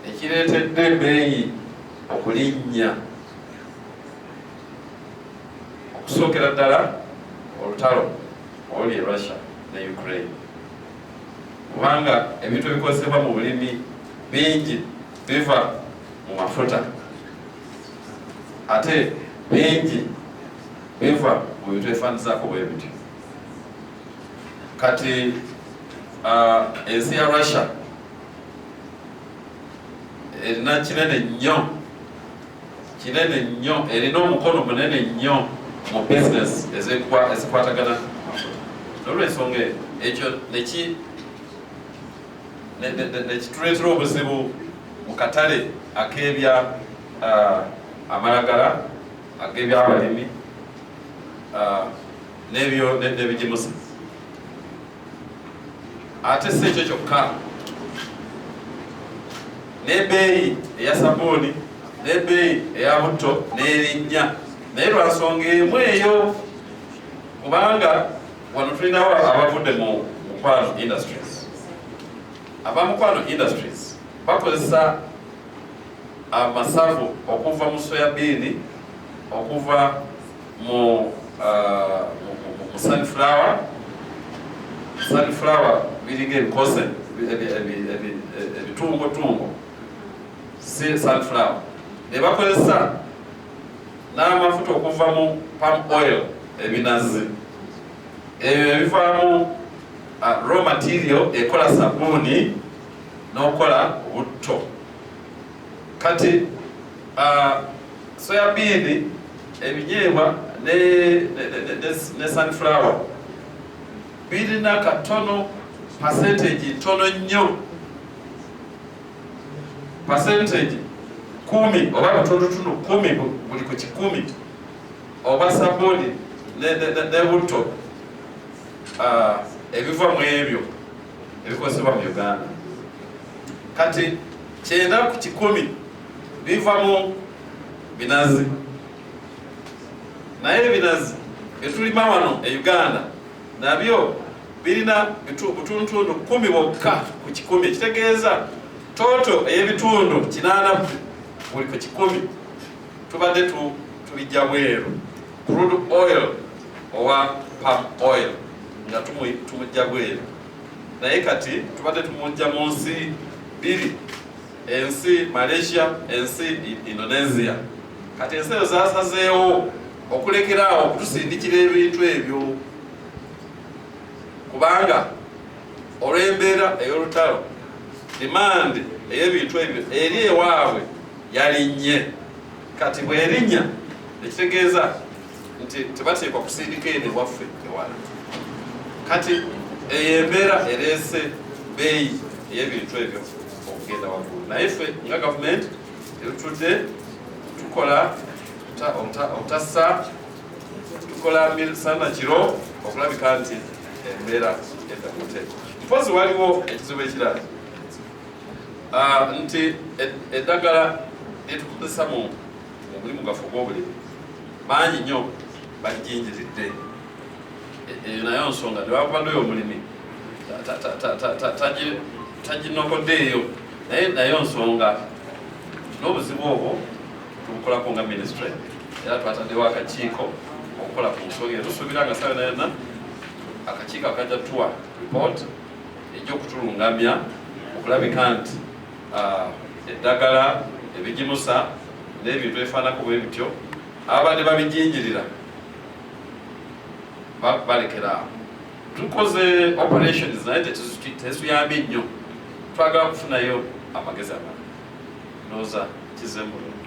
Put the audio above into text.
ekireetedde ebeeyi okulinnya okusookera ddala olutalo oli e russia ne ukraine kubanga ebintu ebikozesebwa mu bulimi bingi biva mu mafuta ate bingi biva mu bintu ebifaanizako bwe bityo kati uh, ensi ya russia erina kinene nnyo kinene nnyo erina omukono munene nnyo mu business ezikwatagana nolwensonga ekyo nekituleetera obuzibu mu katale akebya uh, amalagala ag'ebyabalimi uh, n'ebigimusa ate si ekyo kyokka nebeeyi eya sabuuni nebeeyi eya butto nerinnya naye lwansonga emu eyo kubanga wano tulinawo abavudde mu mukwano industries aba mukwano industries bakozesa amasavu okuva mu soyabiini okuva mu uh, mu sunflower sunflower biringa ebikoze ebitungotungo si sunflower nebakozesa n'amafuta okuva mu palm oil ebinazi ebyo ebivaamu uh, raw material ekola sabuuni n'okukola obutto kati uh, soya biini ebinyeebwa ne, ne, ne, ne, ne, ne sunflower birina katono percentage ntono nnyo percentage kumi oba butundutundu kumi bu- buli ku kikumi oba sabuni ne- ne- ne- ne butto ah, ebiva mu ebyo ebikozesebwa mu uganda kati kyenda ku kikumi biva mu binazi naye ebinazi byetulima wano e uganda nabyo birina butuntundu kumi bokka ku kikumi ekitegeeza toto ey'ebitundu kinaana buli ku kikumi tubadde tubijja bweru crude oil owa palm oil nga tumujja bweru naye kati tubadde tumujja mu nsi biri ensi Malaysia, ensi Indonesia. Kati ensi ezo zasazeewo okulekera awo okutusindikira ebintu ebyo kubanga olw'embeera ey'olutalo demand ey'ebintu ebyo eri ewaabwe yalinnye kati bwerinnya ekitegeeza nti tebateekwa kusindika eno ewaffe ewala kati eyo embeera ereese beeyi ey'ebintu ebyo okugenda waggulu naye ffe nga gavumenti tetutudde tukola obutassa tukola sana kiro okulabika nti embeera edda ku nteeko mpozi waliwo ekizibu ekirala ah, nti e-, eddagala lyetukozesa mu mulimu gaffe ogw'obulimi bangi nnyo balijinjiridde eyo nayo nsonga tewakubadde oyo omulimi taginokoddeeyo naye nayo nsonga n'obuzibu obwo tubukolako nga ministry era twataddewo akakiiko okukola ku nsonga eyo tusuubira nga sawe nayona akakiiko akajja tuwa report ejja okutulungamya okulabika nti ah, eddagala ebigimusa n'ebintu ebifaanako bwe bityo abadde babijinjirira balekera awo tukoze operations naye tetuyambye nnyo twagala kufunayo amagezi amala noza kizemulungi